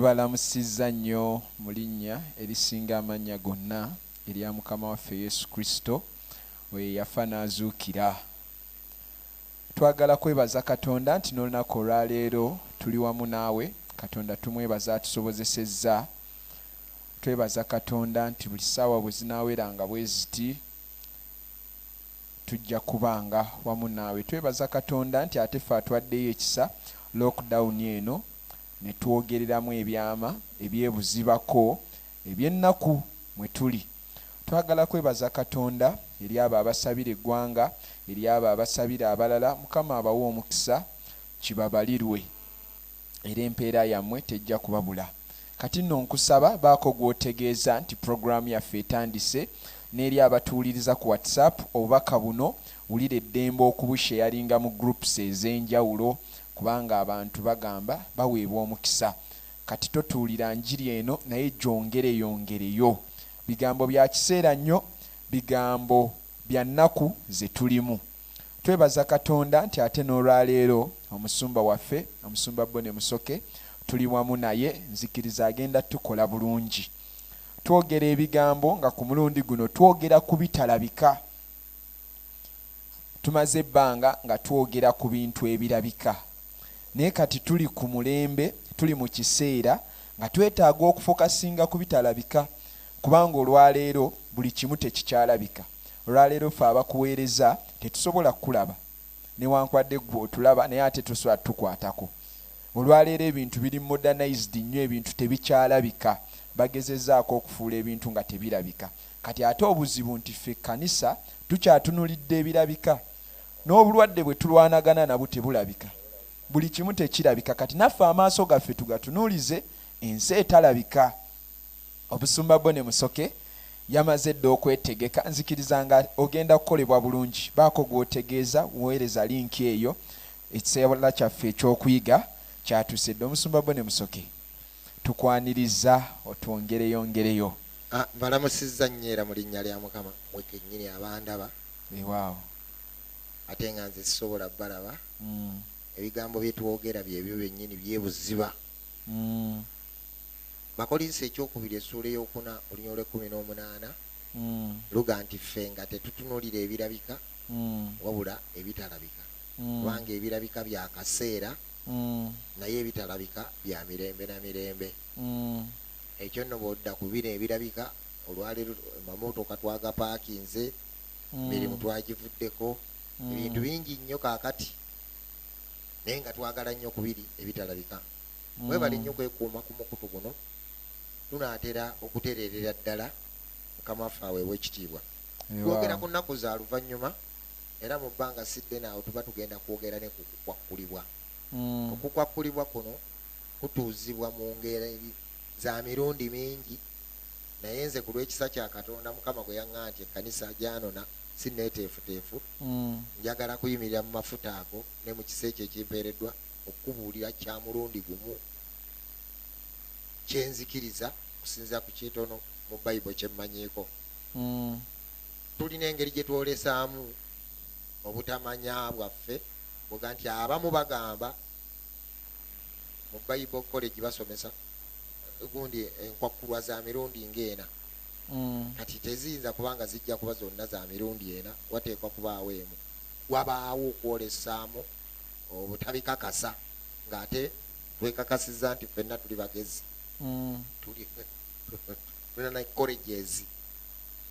Tubalamusizza nnyo mu linnya erisinga amannya gonna, erya Mukama waffe Yesu Kristo, oyo eyafa n'azuukira. Twagala kwebaza Katonda nti n'olunaku olwa leero tuli wamu naawe. Katonda tumwebaza atusobozesezza. Twebaza Katonda nti buli ssaawa bwe zinaaweranga bwe ziti, tujja kubanga wamu naawe. Twebaza Katonda nti ate ffe atwaddeyo ekisa, lockdown eno, ne twogereramu ebyama ebyebuzibako eby'ennaku mwe tuli. Twagala kwebaza Katonda eri abo abasabira eggwanga, eri abo abasabira abalala, Mukama abawe omukisa, kibabalirwe era empeera yammwe tejja kubabula. Kati nno nkusaba baako gw'otegeeza nti pulogulaamu yaffe etandise n'eri abatuwuliriza ku WhatsApp obubaka buno, wulira eddembe okubusheyaringa mu groups ez'enjawulo. Kubanga abantu bagamba baweebwa omukisa kati totuulira njiri eno naye gyongere yongereyo. Bigambo bya kiseera nnyo, bigambo bya nnaku ze tulimu. Twebaza Katonda nti ate n'olwaleero omusumba waffe, Omusumba Bonnie Musoke tuli wamu naye nzikiriza agenda tukola bulungi. Twogera ebigambo nga ku mulundi guno twogera ku bitalabika. Tumaze ebbanga nga twogera ku bintu ebirabika, naye kati tuli ku mulembe, tuli mu kiseera nga twetaaga okufokasinga ku bitalabika, kubanga olwaleero buli kimu tekikyalabika. Olwaleero ffe abakuweereza tetusobola kukulaba, newankubadde ggwe otulaba naye ate tosobola tutukwatako. Olwaleero ebintu biri modernized nnyo, ebintu tebikyalabika. Bagezezaako okufuula ebintu nga tebirabika. Kati ate obuzibu nti ffe kkanisa tukyatunulidde ebirabika. N'obulwadde bwe tulwanagana nabwo tebulabika. Buli kimu tekirabika. Kati naffe amaaso gaffe tugatunuulize ensi etalabika. Obusumba Bonnie Musoke yamaze dda okwetegeka. Nzikiriza nga ogenda kukolebwa bulungi. Baako gw'otegeeza, weereza linki eyo. Ekiseera kyaffe eky'okuyiga kyatuuse dda. Omusumba Bonnie Musoke, tukwanirizza otwongereyongereyo. Ah, balamusizza nnyo era mu linnya lya mukama mwe kennyini abandaba ewaawo ate nga nze sisobola balaba mm. ebigambo bye twogera byebyo byennyini byebuziba mm. bakolinsa ekyokubiri essuula eyokuna olunya olwekumi n'omunaana mm. luga nti ffe nga tetutunulira ebirabika wabula ebitalabika kubanga ebirabika bya kaseera naye ebitalabika bya mirembe na mirembe Ekyo nno bwodda ku bino ebirabika, olwaleero amamootoka twagapaakinze, emirimu twagivuddeko, ebintu bingi nnyo kaakati naye nga twagala nnyo ku biri ebitalabika. Mwebale nnyo kwekuuma ku mukutu guno, tunaatera okutereerera ddala. Mukama waffe aweebwe ekitiibwa. Twogera ku nnaku za luvannyuma era mu bbanga si ddene awo tuba tugenda kwogera ne ku kukwakkulibwa. Okukwakkulibwa kuno. kutuuzibwa mu ngeri za mirundi mingi, naye nze ku lw'ekisa kya Katonda Mukama gwe yaŋŋaa nti ekkanisa gyanona, si nneeteefuteefu, njagala kuyimirira mu mafuta ago ne mu kisa ekyo ekimpeereddwa okukubuulira kya mulundi gumu kye nzikiriza okusinziira ku kitono mu Bayibo kye mmanyiiko. Tulina engeri gye twolesaamu obutamanya bwaffe, bw'oga nti abamu bagamba. mu bible college basomesa gundi enkwakkulwa za mirundi ng'ena mm. kati teziyinza kubanga zijja kuba zonna za mirundi ena wateekwa kubaawo emu wabaawo okwolesaamu obutabikakasa ng'ate twekakasiza nti fenna tuli bagezi mm. tulina colleges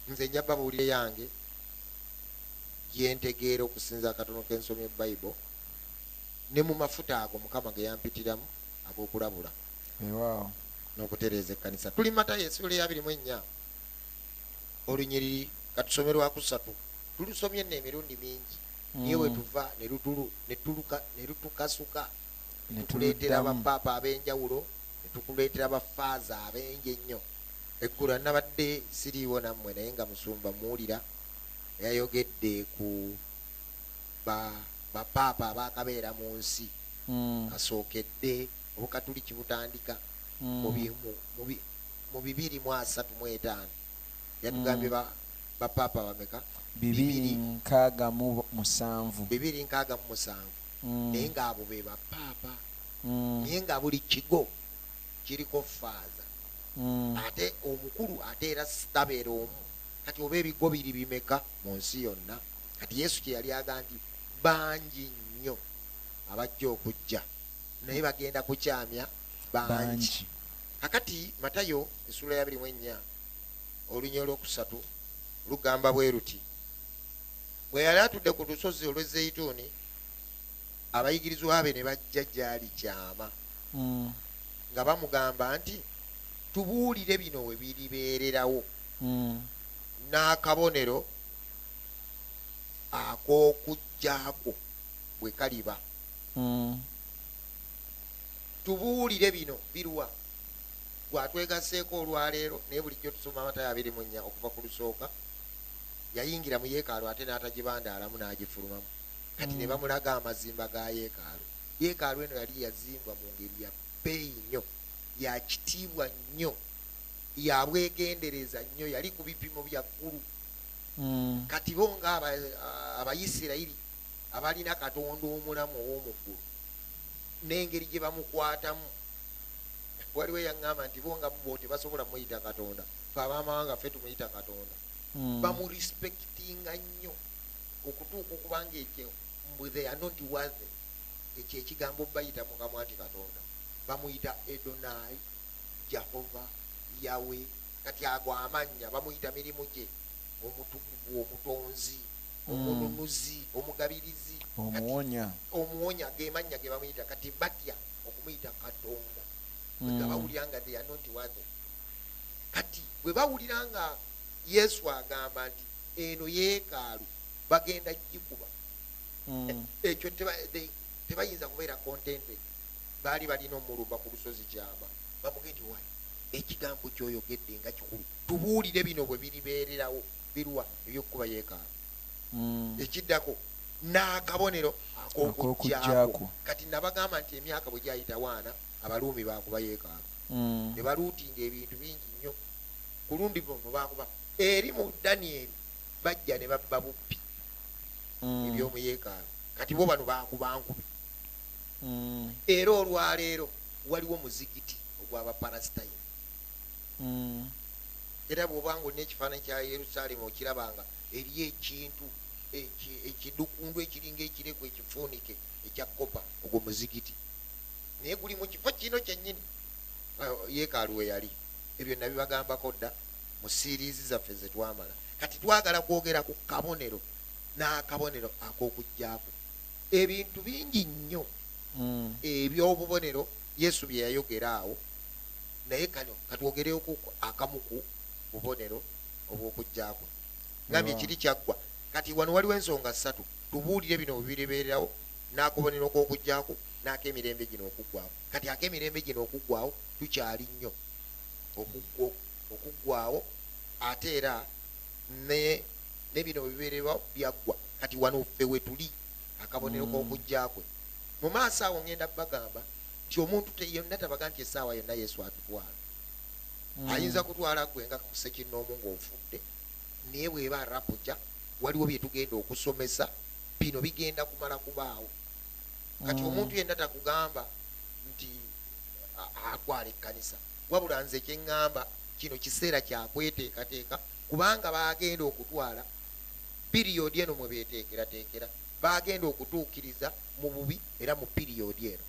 nze nja babuulire yange yentegeera okusinza akatono k'ensomye bible ne mu mafuta ago mukama ge yampitiramu ag'okulabula ewaawo n'okutereeza ekkanisa tuli mata yesula eyabiri mu ennya olunyiriri katusome lwakusatu tulusomye nno emirundi mingi niye mm. wetuva nelutukasuka netukuleetera bapaapa ab'enjawulo netukuleetera bafaaza ab'engi ennyo eggulu anabadde siriiwo nammwe naye nga musumba muwulira yayogedde ku ba ba paapa abaakabeera mu nsi kasookedde Obukatuliki butandika mu bi mu mu bi mu bibiri mu asatu mu etaano. Yatugambye ba ba paapa bameka? Bibiri nkaaga mu musanvu. Bibiri nkaaga mu musanvu. Naye nga abo be ba paapa. Naye nga buli kigo kiriko faaza. Ate omukulu ate era tabeera omu. Kati oba ebigo biri bimeka mu nsi yonna? kati yesu kye yali agambye bangi nnyo abajja okujja naye bagenda kukyamya bangi kakati matayo esuula ya biri mu ennya olunya olwokusatu lugamba bwe luti bwe yali atudde ku lusozi olw'ezzeyituuni abayigirizwa be ne bajja gyali kyama mm. nga bamugamba nti tubuulire bino we biribeererawo mm. n'akabonero ak'Okujjakwo bwe kaliba. Hmm. Tubuulire bino biruwa? Gwe atwegasseeko olwaleero, naye bulijjo tusoma Matayo abiri mu nnya okuva ku lusooka. Yayingira mu yeekaalu ate n'atagibandaalamu n'agifulumamu. Kati ne hmm. bamulaga amazimba ga yeekaalu. Yeekaalu eno yali yazimbwa mu ngeri ya bbeeyi nnyo, ya kitiibwa nnyo, ya bwegendereza nnyo, yali ku bipimo bya ggulu. mm. kati bo nga abayisirayiri abalina katonda omulamu ow'omuggulu n'engeri gye bamukwatamu waliwo eyaŋŋamba nti bo nga bo tebasobola muyita katonda fe abamawanga ffe tumuyita katonda mm. bamurespectinga nnyo okutuuka okubanga ekyo mbu they are not worthy ekyo ekigambo bayita mukamwa nti katonda bamuyita edonai Jahova, Yawe, kati ago amannya bamuyita mirimu gye, Omutukuvu, Omutonzi, hmm. Omununuzi, Omugabirizi, Omuwonya. Omuwonya ge mannya ge bamuyita, kati batya okumuyita Katonda bwe hmm. gabawulira nga they are not worthy. Kati bwe bawulira nga Yesu agamba nti eno yeekaalu bagenda gikuba hmm. ekyo tebayinza kubeera contented baali balina omulumba ku lusozi kyama bamuge nti wali ekigambo kyoyogedde nga kikulu tubuulire bino bwe biribeererawo birwa ebyokukuba yeekaano hmm. ekiddako n'akabonero ak'okujjako kati nabagamba nti emyaka bwe gyayita waana abaluumi baakuba yeekaano hmm. ne baluutinga ebintu bingi nnyo ku lundi luno baakuba eri mu danieri bajja ne babba bubbi hmm. ebyomu yeekaano kati bo bano baakuba nkubi mm. era olwaleero waliwo muzigiti ogw'abaparasitayini mm. era bw'obanga olina ekifaananyi kya yerusaalemu okirabanga eri ekintu ekidukundu ekiringa ekireku ekifuunike ekya kopa ogwo muzigiti naye guli mu kifo kino kyennyini yeekaalu we yali ebyo nabibagambako dda mu siiriizi zaffe ze twamala kati twagala kwogera ku kabonero n'akabonero ak'okujjaku ebintu bingi nnyo hmm. ebyobubonero yesu bye yayogera awo naye kano katwogereoku akamuku bubonero obwokujjakwe ngambye kiri kyaggwa kati wano waliwo ensonga ssatu tubuulire bino bwebiribeerawo n'akubonero kwokujjaku n'akemirembe gino okuggwawo kati akemirembe gino okuggwawo tukyali nnyo okuggwawo ate era ne bino bwebibeerewa byaggwa kati wano ffe wetuli akabonero mm. k'okujja kwe mu maaso awo ngenda bagamba nti omuntu yonna tabaga nti essaawa yonna yesu atutwala mm. ayinza kutwala gwe nga kusekinnoomu ng'ofudde naye bweba rapuja waliwo bye tugenda okusomesa bino bigenda kumala kubaawo kati mm. omuntu yenna takugamba nti akwala ekkanisa wabula nze kyeŋŋamba kino kiseera kyakweteekateeka kubanga baagenda okutwala piriyodi eno mwe beteekerateekera baagenda okutuukiriza mu bubi era mu piriyodi eno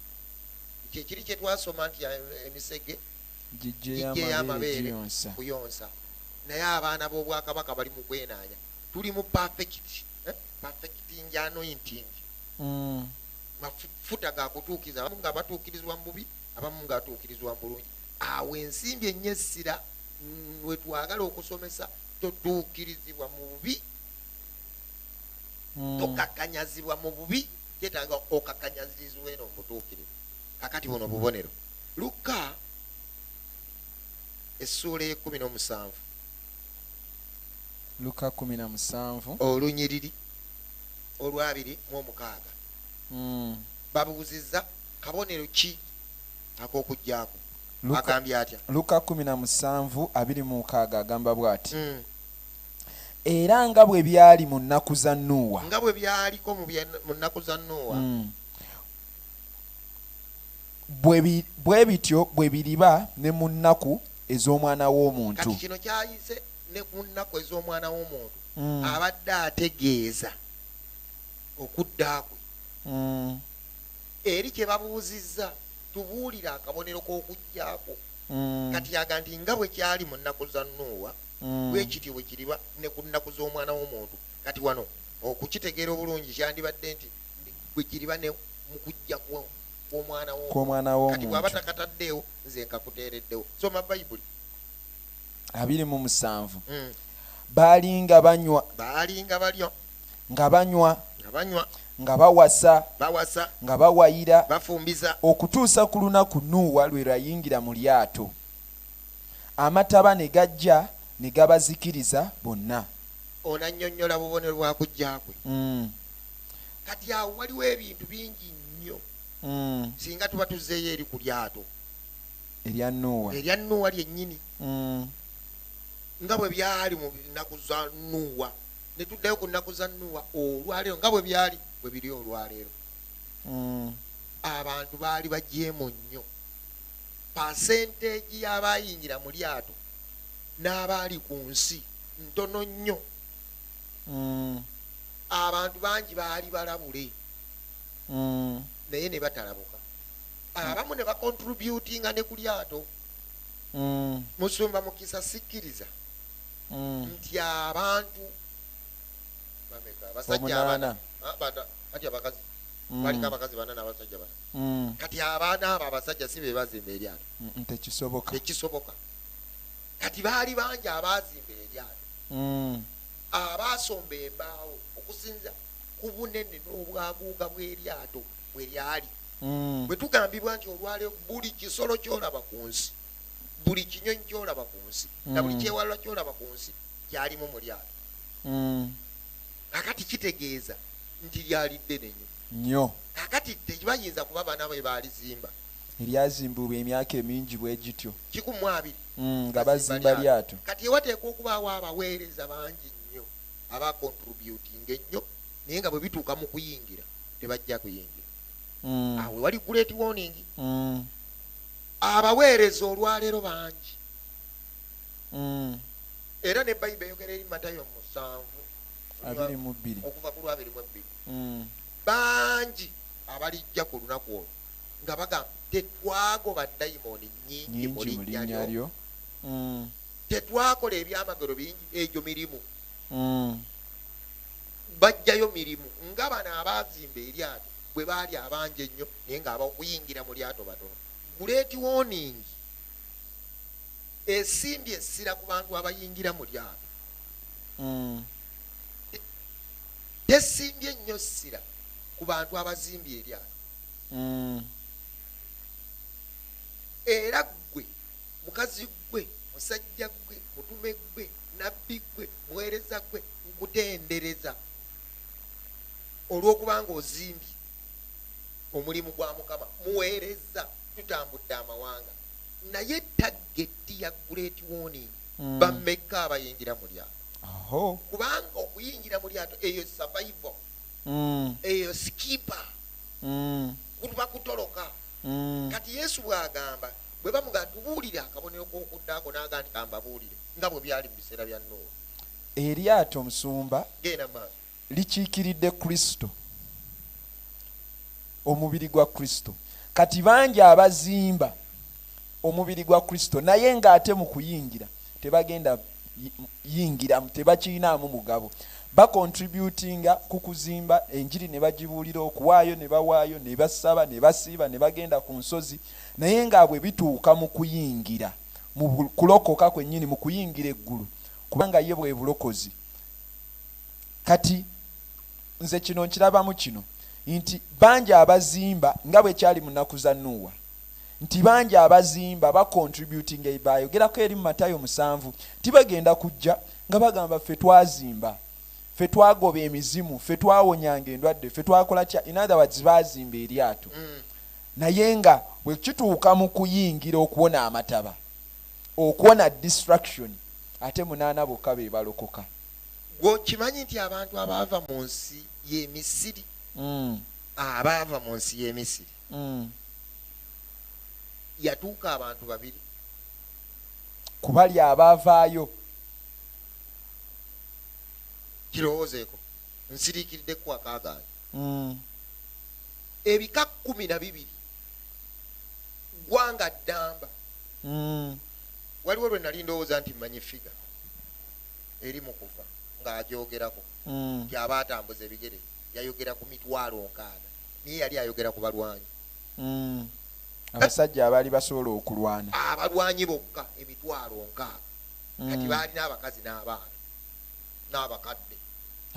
kyekiri kye twasoma nti eh, emisege gijjeyamabeere kuyonsa naye abaana b'obwakabaka bali mu kwenaanya tuli mu pafekiti eh, pafekiti njanointingi mm. mafuta gakutuukiriza abamu nga batuukirizibwa mu bubi abamu nga atuukirizibwa mu bulungi awo ensimbi enye essira mm, wetwagala okusomesa toduukirizibwa mu bubi hmm. tokakanyazibwa mu bubi kyetaaga okakanyazirizibwa eno mubutuukirivu kakati buno bubonero lukka essuula ekumi n'omusanvu luka kumi na musanvu olunyiriri olwabiri mu omukaaga hmm. babuuzizza kabonero ki ak'okuggyako agambye atya? Luka kkumi na musanvu abiri mu mukaaga agamba bw'ati mm. era nga bwe byali mu nnaku za Nuuwa nga bwe byaliko mu nnaku za Nuuwa mm. bwe bityo bwe biriba ne mu nnaku ez'omwana w'omuntu kati kino kyayise ne ku nnaku ez'omwana w'omuntu mm. abadde ategeeza okudda kwe mm. eri kye babuuzizza tubuulire akabonero k'okujja kwo mm. kati aga nti nga bwe kyali mu nnaku za nuuwa mm. bwe kityo bwe kiriba ne ku nnaku z'omwana w'omuntu kati wano okukitegeera obulungi kyandibadde nti bwe kiriba ne mu kujja kw'omwana w'omuntukati bw'aba takataddeewo nze nkakuteereddewo soma bayibuli abiri mu musanvu mm. baalinga banywa baalinga balyo nga banywa nga banywa nga bawasa bawasa nga bawayira bafumbiza okutuusa ku lunaku nuuwa lwe lwayingira mu lyato amataba ne gajja ne gabazikiriza bonna ono annyonnyola bubonero bwa kujja kwe mm. kati awo waliwo ebintu bingi nnyo mm. singa tuba tuzzeeyo eri ku lyato erya nuuwa erya nuuwa lyennyini mm. nga bwe byali mu nnaku za nuuwa ne tuddayo ku nnaku za nuwa olwaleero nga bwe byali bwe biri olwaleero mm. abantu baali bajeemu nnyo pasenteegi y'abaayingira mu lyato n'abaali ku nsi ntono nnyo mm. abantu bangi baali balabule mm. naye ne batalabuka abamu ne bakontributinga ne ku lyato musumba mukisa sikkiriza mm. nti abantu kati abakazi mm. balina abakazi bana nabasajja bana mm. kati abaana abo abasajja si bebazimba eryato tekisoboka kati baali bangi abazimba eryato abasomba embaawo okusinza ku bunene n'obwaguuga bw'eryato bwe lyali bwe tugambibwa nti olwaleo buli kisolo kyolaba ku nsi buli kinyonyi kyolaba ku nsi na buli mm. kyewalula kyolaba ku nsi kyalimu mu lyato mm. kakati kitegeeza nti lyali ddene nyo nyo kakati tebayinza kuba baana be baalizimba eryazimbulwa emyaka emingi bwe gityo kikumu abiri mm, nga bazimba lyato kati ewateeka okubaawo abaweereza bangi nnyo abakontributinga ennyo naye nga bwe bituuka mu kuyingira tebajja kuyingira awo wali guleeti woningi Abaweereza olwaleero bangi mm. era ne bayiba eyogera eri matayo musanvu okuva ku lwabiri mu ebbiri mm. bangi abalijja ku lunaku olwo nga bagamba tetwagoba dayimooni nyingi mu linnya lyo mm. tetwakola ebyamagero bingi egyo mirimu mm. bajjayo mirimu nga bano abaazimba eryato bwe baali abangi ennyo naye nga abakuyingira mu lyato batono guleeti woningi esimbye essira ku bantu abayingira mu lyato hmm. tesimbye nnyo ssira ku bantu abazimbye eryato hmm. era ggwe mukazi ggwe musajja ggwe mutume ggwe nabbi ggwe muweereza ggwe nkutendereza olw'okuba nga ozimbye omulimu gwa mukama muweereza tutambudde amawanga naye tageti ya great warning mm. bamekka abayingira mu lyato kubanga okuyingira mu lyato eyo survival mm. eyo skipa mm. kuba kutoloka mm. kati yesu bwagamba bwe bamuga tubuulire akabonero k'okuddaako n'aga nti kambabuulire nga bwe byali mu biseera bya noowa eryato omusumba genda maaso Likiikiridde Kristo, omubiri gwa Kristo. Kati bangi abazimba omubiri gwa Kristo naye ng'ate mu kuyingira tebagenda yingiramu, tebakiyinaamu mugabo. Bakontributinga ku kuzimba enjiri ne bagibuulira, okuwaayo ne bawaayo, ne basaba, ne basiiba, ne bagenda ku nsozi, naye nga bwe bituuka mu kuyingira mu kulokoka kwennyini, mu kuyingira eggulu, kubanga ye bwe bulokozi kati nze kino nkirabamu kino nti bangi abazimba nga bwe kyali mu nnaku za nuuwa nti bangi abazimba bacontributinga ebayogerako eri mu matayo musanvu nti bagenda kujja nga bagamba ffe twazimba ffe twagoba emizimu ffe twawonyanga endwadde ffe twakola kya in other words bazimba eryato mm. naye nga bwe kituuka mu kuyingira okuwona amataba okuwona distraction ate munaana bokka be balokoka gwe okimanyi nti abantu abaava mu nsi y'emisiri mm. abaava mu nsi y'emisiri mm. yatuuka abantu babiri kubali abaavaayo kirowoozeeko nsiriikiridde kuwakaagaana mm. ebika kumi na bibiri ggwanga ddamba waliwo lwe nali ndowooza nti mmanyi figa eri mu kuva ng'agyogerako mm. nti aba atambuza ebigere yayogera ku mitwalo nkaaga naye yali ayogera ku balwanyi mm. abasajja abaali basobola okulwana abalwanyi bokka emitwalo nkaaga mm. kati baalina abakazi n'abaana n'abakadde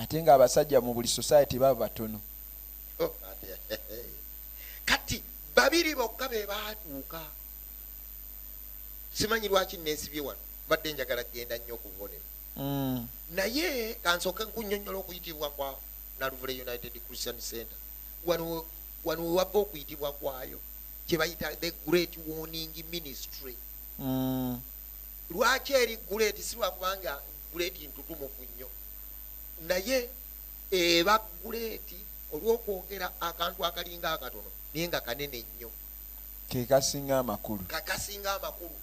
ate ng'abasajja mu buli society baba batono oh, kati babiri bokka be baatuuka simanyi lwaki nensibye wano mbadde njagala kugenda nnyo ku bubonero mm. naye kansooke nkunyonyola okuyitibwa kwa naluvule united christian center wano wewava okuyitibwa kwayo kyebayita the great warning ministry mm. lwaki eri great si lwakubanga great ntutumuku nnyo naye eba great olwokwogera akantu akalinga akatono naye nga kanene nnyo kekasinga amakulu kakasinga amakulu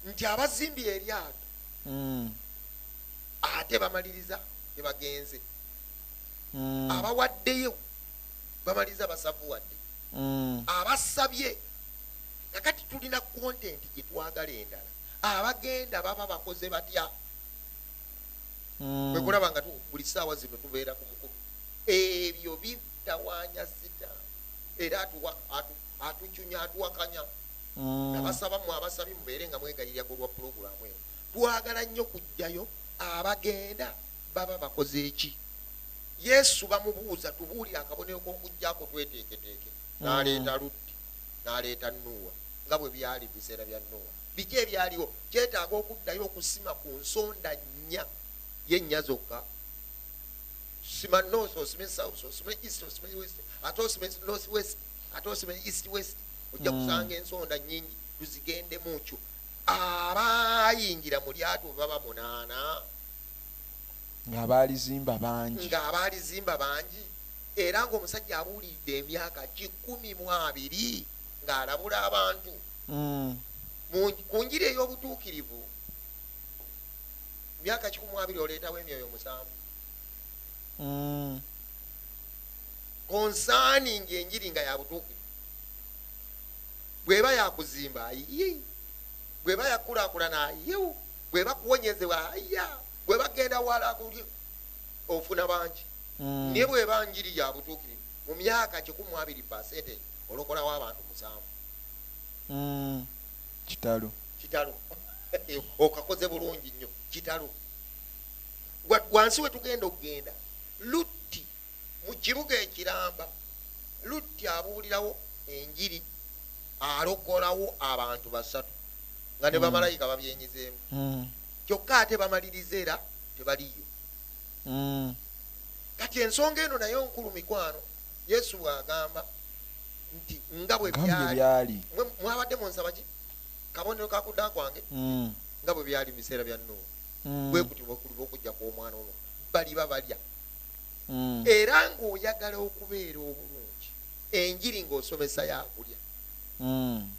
nti abazimbi eryato mm. ate bamaliriza tebagenze mm. abawaddeyo bamaliriza basavuwadde mm. abasabye kakati tulina kontenti gyetwagala endala abagenda baba bakoze batya mm. kwekulaba nga buli saawa zino tubeera ku mukulu ebyo bitawaanya sita era atuwa atu, atucunya atuwakanya mm. nabasaba mwe abasabi mubeere nga mwegayirira ku lwa pulogulaamu eno twagala nnyo kujjayo abagenda baba bakoze eki yesu bamubuuza tubuulire akabonero k'okujjako tweteeketeeke mm. naleeta luddi naleeta nuuwa nga bwe byali biseera bya nuuwa biki ebyaliwo kyetaaga okuddayo okusima ku nsonda nnya yennya zokka sima north osime south osime east osime west ate osime north west ate osime east west ojja mm. kusanga ensonda nyingi tuzigendemu kyo abayingira mu lyato baba munaana ngaabalizimba bangi ngaabalizimba bangi era ngaomusajja abuuliridde emyaka kikumi mu abiri ng'alabula abantu mm. ku njiri ey'obutuukirivu myaka kikumi mu abiri oleetawo emyoyo musanvu mm. konsaani ngaenjiri nga yabutuukirivu bweba yakuzimba ayi bweba yakulakulana ayi bweba kuwonyezewa aya bweba genda wala kuli ofuna bangi mm. naye bweba njiri yabutuukirivu mu myaka kikumu abiri pasente olokolawo abantu musanvu mm. kitalo kitalo okakoze bulungi nnyo kitalo wansi wetugenda okugenda lut mu kibuga ekiramba lutti abuulirawo enjiri alokolawo abantu basatu nga ne hmm. bamalayika babyenyizeemu hmm. kyokka ate bamaliriza era tebaliyo hmm. kati ensonga eno naye nkulu mikwano yesu bwagamba nti nga bwe byali mwabadde munsabaki kabonero kakuda kwange nga bwe byali mu biseera bya nuuwa bwe kutyo bwekuli bwokujja kw'omwana ono baliba balya mm. era ng'oyagala okubeera obulungi enjiri ng'osomesa yakulya mm.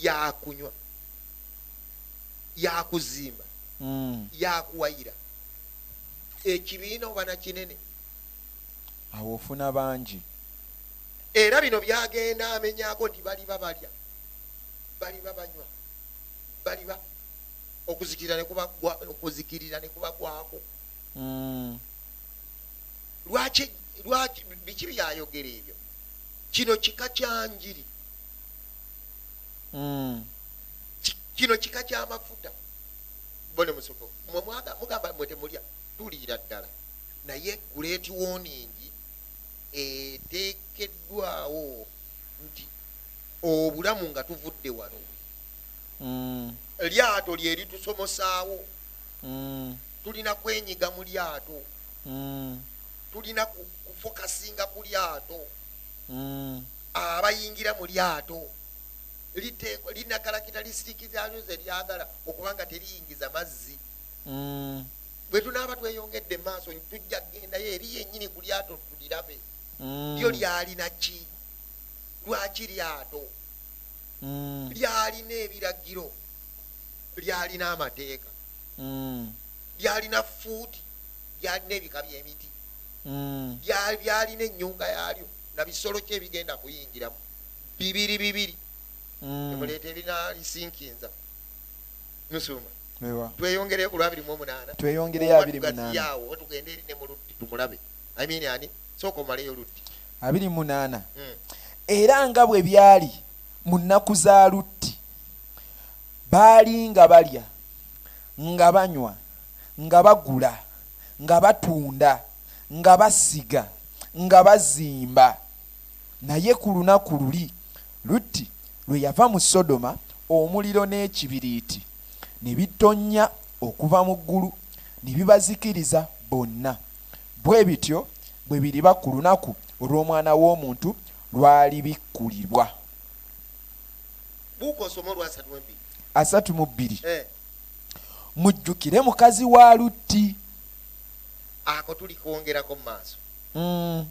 yakunywa yakuzimba mm. yakuwayira ekibiina oba nakinene awo ofuna bangi era bino byagenda amenyako nti baliba balya baliba banywa baliba okuzikirira nekubagwako mm. lwaki lwaki biki byayogera ebyo kino kika kyanjiri mm. kino kika kyamafuta bone musoko mugamba mwe temulya tuliira ddala naye guleeti woningi etekeddwawo nti obulamu nga tuvudde wano mm. lyato lyeritusomosaawo mm. tulina kwenyiga mu lyato mm. tulina kufokasinga ku lyato mm. abayingira mu lyato linakalakita lisiriki zalyo ze lyagala okubanga teriyingiza mazzi mm. bwe tunaaba tweyongedde maaso tujja kugendayo eri yenyini ku lyato tulirabe mm. lyo lyalina ki lwaki lyato mm. lyalina ebiragiro lyalina amateeka mm. byalina fuudi byalina ebika byemiti mm. byalina enyumba yalyo nabisolo kyo ebigenda kuyingiramu bibiri bibiri mm. emuleeta ebirina lisinkinza musuma tweyongereyo ku lwabiri mu omunaana tweyongereyo abiri munaayawo tugende eri ne muluddi tumulabe amini ani sooka omaleyo luddi abiri munaana mm. era nga bwe byali mu nnaku za lutti Baali nga balya, nga banywa, nga bagula, nga batunda, nga basiga, nga bazimba. Naye ku lunaku luli Lutti lwe yava mu Sodoma, omuliro n'ekibiriiti ne bitonnya okuva mu ggulu ne bibazikiriza bonna. Bwe bityo bwe biriba ku lunaku olw'Omwana w'omuntu lw'alibikkulirwa. asatu mu bbiri eh. mujjukire mukazi wa lutti ako tuli kwongerako mumaaso mm.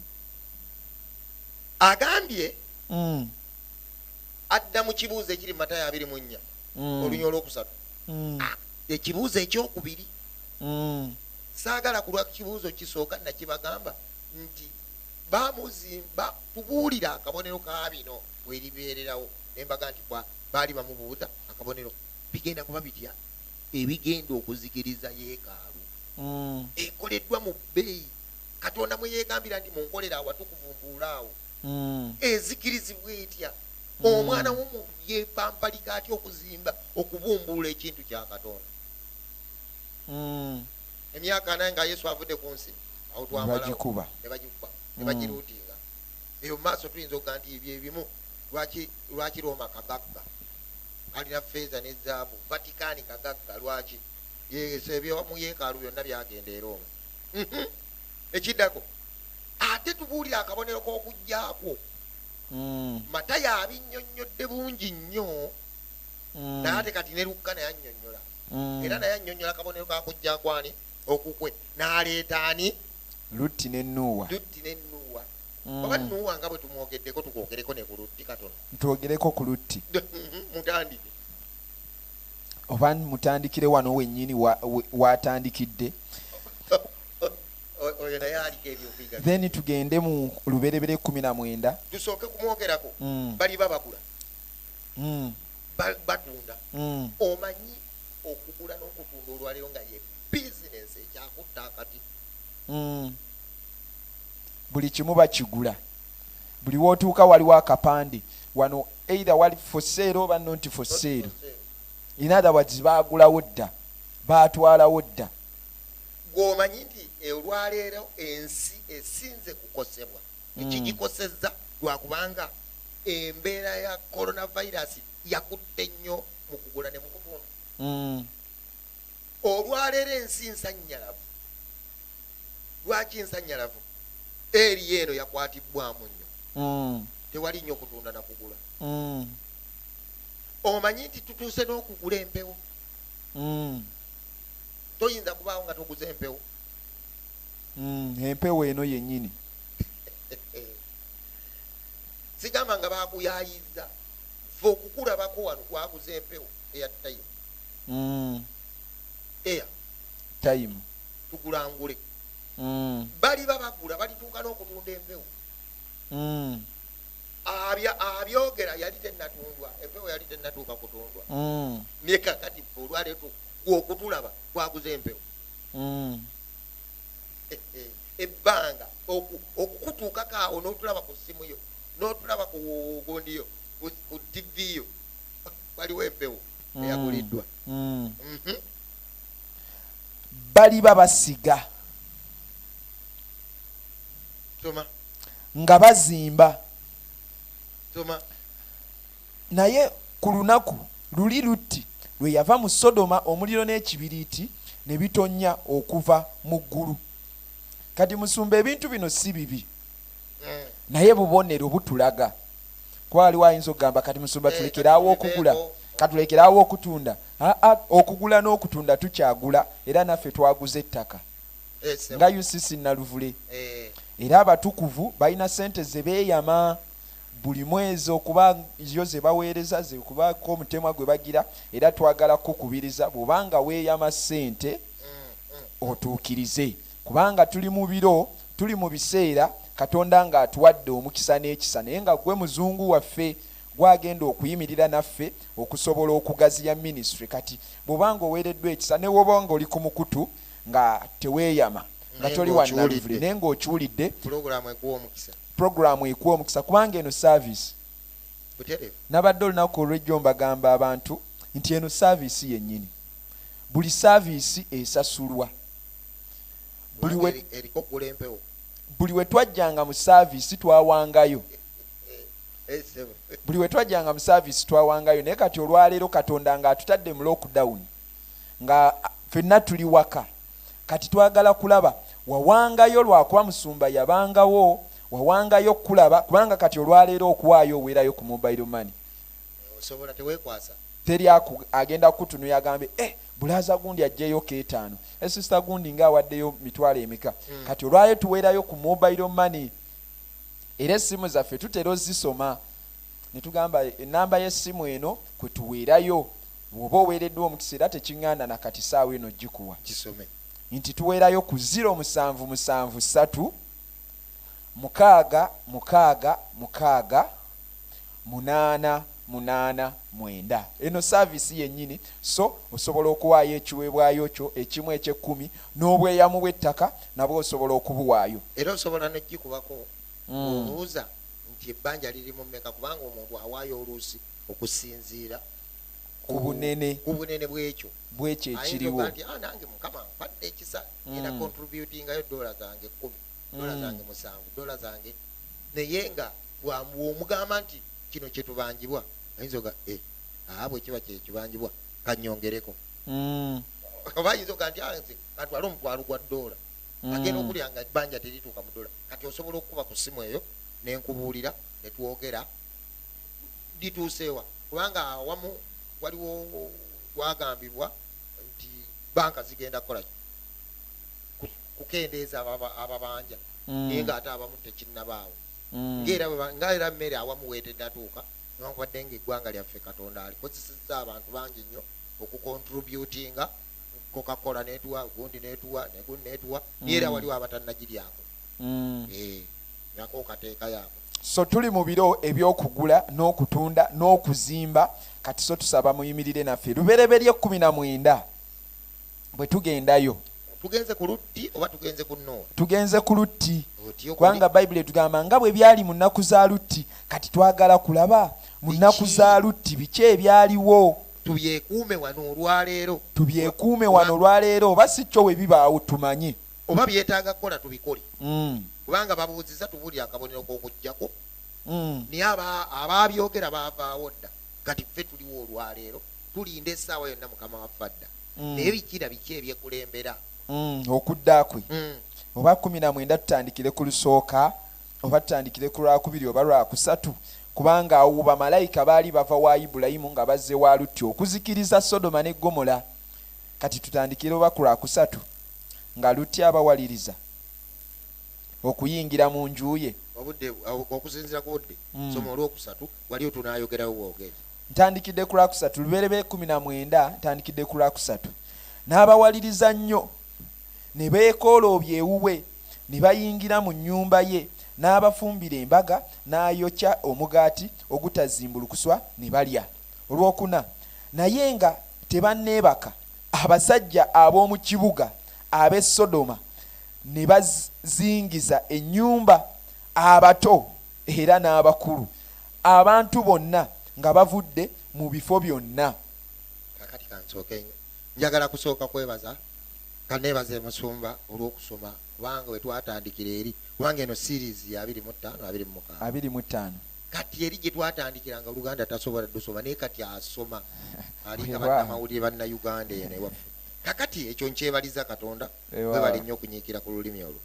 agambye mm. adda mu kibuuzo ekiri mu matayo abiri mu nnya mm. olunya olwokusatu mm. ah, ekibuuzo ekyokubiri mm. saagala kulwa kibuuzo kisooka nakibagamba nti bamuziba tubuulira akabonero ka bino weribeererawo nembaga nti baali bamubuuza akabonero bigenda kuba bitya ebigenda okuzikiriza yeekaalu mm. ekoleddwa mu bbeeyi katonda mweyegambira nti munkolera awatukuvumbuula awo mm. ezikirizibwa etya mm. omwana womuntu yepampalika atya okuzimba okubumbuula ekintu kya katonda emyaka naye nga yesu avudde ku nsi awo twamalawo nebagikuba nebagiruuti eyo mumaaso tuyinza okuga nti byebimu lwaki lwaki roma kagagga kalina feeza ne zaabu vatikani kagagga lwaki yeso ebyo mu yeekaalu byonna byagenda era omu mhm. ekiddako ate tubuulira akabonero k'okujjakwo mm. matayo abinnyonnyodde bungi nnyo mm. naye ate kati ne lukka naye annyonnyola mm. era naye annyonnyola akabonero kakujjakwani okukwe n'aleeta ani lutti ne nuuwa lutti ne nuuwa mm. oba nuuwa nga bwe tumwogeddeko tukwogereko ne ku lutti katono ntwogereko ku lutti mm-hmm. mutandike oba mutandikire wano wennyini waatandikidde then tugende mu luberebere kumi na mwenda tusooke kumwogerako mm. baliba bagula mm. batunda omanyi okugula n'okutunda olwaleero nga yebbi bizinensi ekyakutta akati mm. buli kimu bakigula buli wotuuka waliwo akapande wano either wali foseero oba nonti foseero in other words baagulawo dda baatwalawo dda gwomanyi nti olwaleero ensi esinze kukosebwa mm. ekigikosezza lwakubanga embeera ya coronavirus yakutte nnyo mu kugula ne mukutunda mm. olwaleero ensi nsanyalavu lwaki nsanyalavu eriyo eno yakwatibbwamu nnyo mm. tewali nnyo kutunda nakugula mm. omanyi nti tutuuse n'okugula empewo mm. toyinza kubaawo nga toguza empewo empewo eno yennyini sigamba nga bakuyayiza fe okukulabako wano twaguza empewo eya tayimu mm. air time tugulangule mm. baliba bagula balituuka n'okutunda empewo mm. abyogera yali tenatundwa empewo yali tenatuuka kutundwa mm. naye kakati olwaleetu okutulaba twaguza empewo mm. eh, eh, ebbanga okukutuukako awo n'otulaba ku ssimu yo n'otulaba ku gundi yo ku tv yo waliwo empewo eyaguliddwa mm. mhm. baliba basiga nga bazimba naye ku lunaku luli lutti lwe yava mu sodoma omuliro n'ekibiriiti ne bitonnya okuva mu ggulu kati musumba ebintu bino si bibi mm. naye bubonero butulaga kuba waliwo ayinza okugamba kati musumba eh, tulekeraawo okugula katulekeraawo okutunda aa okugula n'okutunda tukyagula era naffe twaguza ettaka eh, nga ucc naluvule eh. era abatukuvu balina sente zebeeyama buli mwezi okuba yo zebaweereza zekubaako omutemwa gwe bagira era twagala kukubiriza bwobanga weeyama sente mm, mm. otuukirize Kubanga tuli mu biro, tuli mu biseera Katonda ng'atuwadde omukisa n'ekisa, naye nga ggwe Muzungu waffe gw'agenda okuyimirira naffe okusobola okugaziya minisitule. Kati bw'oba ng'oweereddwa ekisa, ne bw'oba ng'oli ku mukutu nga teweeyama, nga toli wa nnaluvule, naye ng'okiwulidde, pulogulaamu ekuwa omukisa. Pulogulaamu ekuwa omukisa kubanga eno saaviisi. Nabadde olunaku olw'ejjo mbagamba abantu nti eno saaviisi yennyini. Buli saaviisi esasulwa. buli we twajjanga mu saaviisi twawangayo eh, eh, buli we twajjanga mu saaviisi twawangayo naye kati olwaleero katonda nga atutadde mu lockdown nga fenna tuli waka kati twagala kulaba wawangayo lwakuba musumba yabangawo wawangayo okukulaba kubanga kati olwaleero okuwaayo owerayo ku mobile money teri agenda kukutunuya agambe eh, Bulaaza gundi ajjeyo ketaano. Eh sister gundi nga awaddeyo mitwalo emeka. Mm. Kati olwayo tuweerayo ku mobile money. Era essimu zaffe tutera ozisoma. Netugamba enamba y'essimu eno kwe tuweerayo. Woba oweereddwa omukisa era tekinganda na kati saawa eno gikuwa. Kisome. Nti tuweerayo ku ziro musanvu musanvu satu mukaaga mukaaga mukaaga munaana munaana mwenda. Eno saaviisi yennyini, so osobola okuwaayo ekiweebwayo kyo ekimu eky'ekkumi, n'obweyamu bw'ettaka nabwo osobola okubuwaayo. Era osobola n'okugikubako ng'obuuza nti ebbanja liri mu mmeka, kubanga omuntu awaayo oluusi okusinziira ku bunene ku bunene bw'ekyo bw'ekyo ayinza ekiriwo. okuba nti ah nange mukama ampadde ekisa ngenda Mm. contributingayo doola zange kkumi doola Mm. zange musanvu doola zange naye nga bwomugamba nti kino kyetubanjibwa ayinza oga e eh, aa bwekiba kyekibanjibwa kanyongereko mm. oba ayinza oga nti ah, nze katwale omutwalo gwa doola mm. agenda okulya nga ebbanja terituuka mu doola kati osobola okukuba ku ssimu eyo nenkubuulira netwogera lituuseewa kubanga awamu waliwo twagambibwa nti banka zigenda kukolaki kukendeeza ababanja mm. naye nga ate abamu tekinnabaawo mm. nga era mmere awamu weetedatuuka newankubadde nga eggwanga lyaffe katonda alikozesezza abantu bangi nnyo okukontributinga kokakola netuwa gundi netuwa negundi netuwa mm. era waliwo abatannagiryako mm. eh, nako kateeka yako so tuli mu biro ebyokugula n'okutunda n'okuzimba kati so tusaba muyimirire naffe lubereberye kumi na mwenda bwe tugendayo tugenze ku lutti oba tugenze ku nuuwa tugenze ku lutti kubanga bayibuli etugamba nga bwe byali mu nnaku za lutti kati twagala kulaba mu nnaku za lutti biki ebyaliwo tubyekuume wano olwaleero tubyekuume wano olwaleero oba si kyo we bibaawo tumanye oba byetaaga kukola tubikole mm. kubanga babuuziza tubuulira akabonero k'okujjako mm. naye abaabyogera baavaawo dda kati ffe tuliwo olwaleero tulinda esaawa yonna mukama waffe adda mm. naye bikira biki ebyekulembera mm, okudda kwe mm. oba kumi na mwenda tutandikire ku lusooka oba tutandikire ku lwakubiri oba lwakusatu kubanga awo bamalayika baali bava wa ibulayimu nga bazze wa lutti okuzikiriza sodoma ne gomola kati tutandikire oba ku lwakusatu nga lutti abawaliriza okuyingira mu nju ye okusinzira ku budde soma olwokusatu wali otunayogerawo bwogezi Ntandikidde ku Lwakusatu, Lubereberye kkumi na mwenda, ntandikidde ku Lwakusatu. N'abawaliriza nnyo, ne beekooloobya ewuwe, ne bayingira mu nnyumba ye, n'abafumbira embaga, n'ayokya omugaati ogutazimbulukuswa, ne balya. Olwokuna. Naye nga tebanneebaka, abasajja ab'omu kibuga ab'e Sodoma ne bazingiza ennyumba, abato era n'abakulu. abantu bonna nga bavudde mu bifo byonna kakati kansooke njagala kusooka kwebaza kaneebaze musumba olw'okusoma kubanga we twatandikira eri kubanga eno series ya abiri mu ttaano abiri mu mukaano abiri mu ttaano kati eri gye twatandikira nga oluganda tasobola dusoma naye kati asoma alinga bannamawulire banna uganda eno ewaffe kakati ekyo nkyebaliza katonda webale nnyo okunyiikira ku lulimi olwo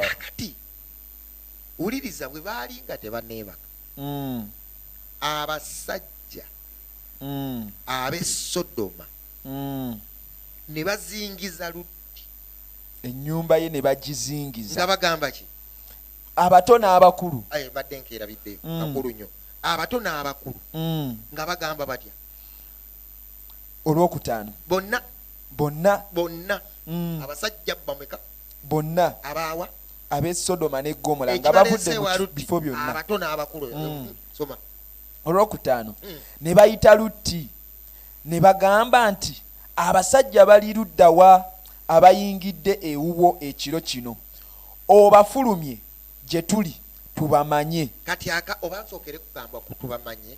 kakati wuliriza bwe baali nga tebaneebaka mm. abasajja mm. ab'e sodoma mm. ne bazingiza lutti ennyumba ye ne bagizingiza nga bagamba ki abato n'abakulu badde nkeerabidde mm. akulu nnyo abato n'abakulu mm. nga bagamba batya olwokutaano bonna bonna bonna mm. abasajja bameka bonna abaawa ab'e sodoma ne gomola nga bavudde mu bifo byonna mm. olwokutaano mm. ne bayita lutti ne bagamba nti abasajja bali luddawa abayingidde ewuwo ekiro kino obafulumye gye tuli tubamanye kati aka oba nsookere kugamba ku tubamanye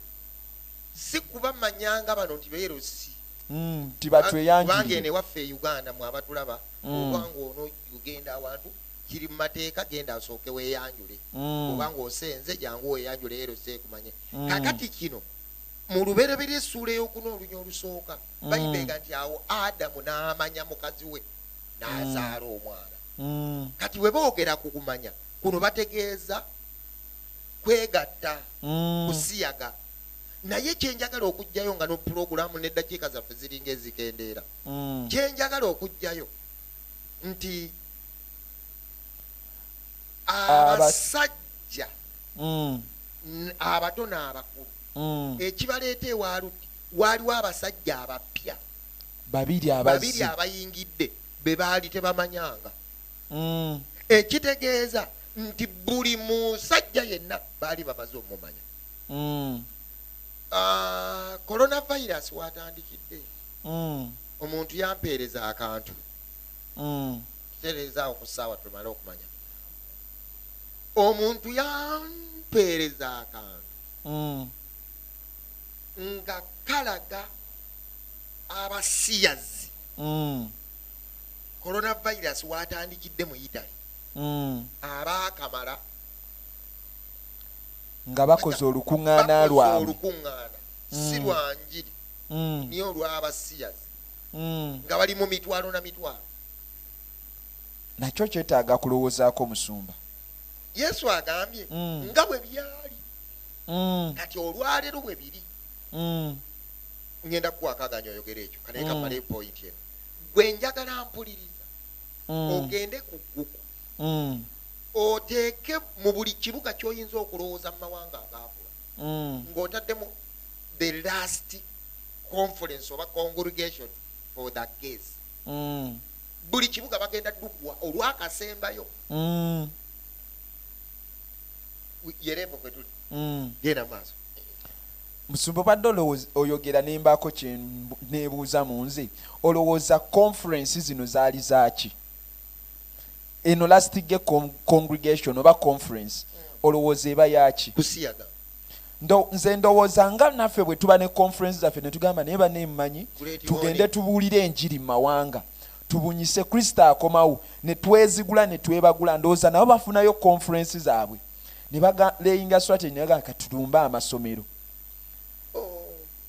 si kubamanyanga bano nti beerosi mm, nti batweyangirire kubanga eno ewaffe e uganda mwe abatulaba mm. oba ngaono ogenda awantu kiri mu mateeka genda asooke weyanjule mm. oba ngaosenze jangu weyanjule ero seekumanye mm. kakati kino mu lubereberye essuula eyokuna olunya olusooka mm. bayibega nti awo adamu n'amanya mukazi we n'azaala mm. omwana mm. kati bwe boogera ku kumanya kuno bategeeza kwegatta mm. kusiyaga naye kyenjagala okugjayo nga nopulogulamu neddakiika zaffe ziringa ezikendeera mm. kyenjagala okujjayo nti abasajja mm. abato n'abakulu mm. ekibaleeta ewaluti waaliwo abasajja abapya babiri abayingidde be baali tebamanyanga mm. ekitegeeza nti buli musajja yenna baali bamaze omumanya mm. ah, coronavirus watandikidde mm. omuntu yampeereza akantu mm. tutereezaawo ku ssaawa tumale okumanya omuntu yampeereza akantu mm. nga kalaga abasiyazi mm. coronavirus watandikidde mu italy mm. abaakamala nga bakoze olukuŋŋaana lwabwe si lwa njiri mm. naye olw'abasiyazi mm. nga bali mu mitwalo na mitwalo nakyo kyetaaga kulowoozaako omusumba yesu agambye mm. nga bwe byali kati olwaleero bwe biri ngenda kukwakaganya oyogera ekyo kanaye kamale epointi eno gwe njagala mpuliriza ogende ku gugu oteeke mu buli kibuga kyoyinza okulowooza mu mawanga agaakula ng'otaddemu the last conference oba congregation for the gays mm. buli kibuga bagenda dukwa olwakasembayo mm. yerepo kwetuli mm. genda maaso musumba obadde olowooza oyogera nembaako kyenebuuza mu nze olowooza conference zino zaali zaaki eno lastige congregation oba conference mm. olowooza eba yaaki kusiyaga ndo, nze ndowooza nga naffe bwe tuba ne conference zaffe ne tugamba naye bane mmanyi tugende tubuulire enjiri mu mawanga tubunyise kristo akomawo ne twezigula ne twebagula ndowooza nabo bafunayo conference zaabwe ne bagaleyinga swateni naga katulumbe amasomero oh,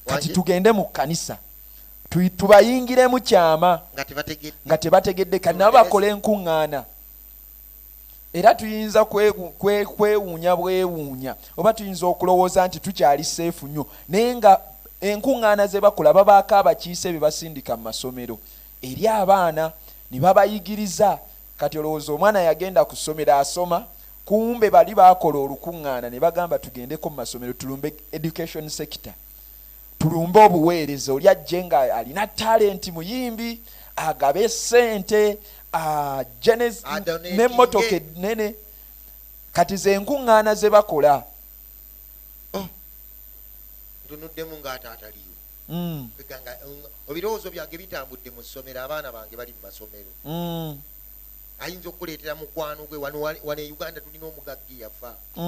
kati tugende mu kkanisa tubayingiremu kyama nga tebategedde kati nabo bakole enkuŋŋaana era tuyinza kwewuunya bwewuunya oba tuyinza okulowooza nti tukyali seefu nnyo naye nga enkuŋŋaana ze bakola babaako abakiise bye basindika mu masomero eri abaana ne babayigiriza kati olowooza omwana yagenda ku ssomero asoma kumbe bali baakola olukuŋŋaana ne bagamba tugendeko mu masomero tulumbe education sector Tulumbe obuweereza oli ajje nga alina talenti muyimbi agabe sente ajje nemotoka enene kati zenkuŋŋaana ze bakola oh. tunuddemu ngaataataliyo mm. ebirowoozo um, byange bitambudde mu ssomero abaana bange bali mu masomero mm. ayinza okukuleetera mukwano gwe wano wane uganda tulina omugagga yafa mm.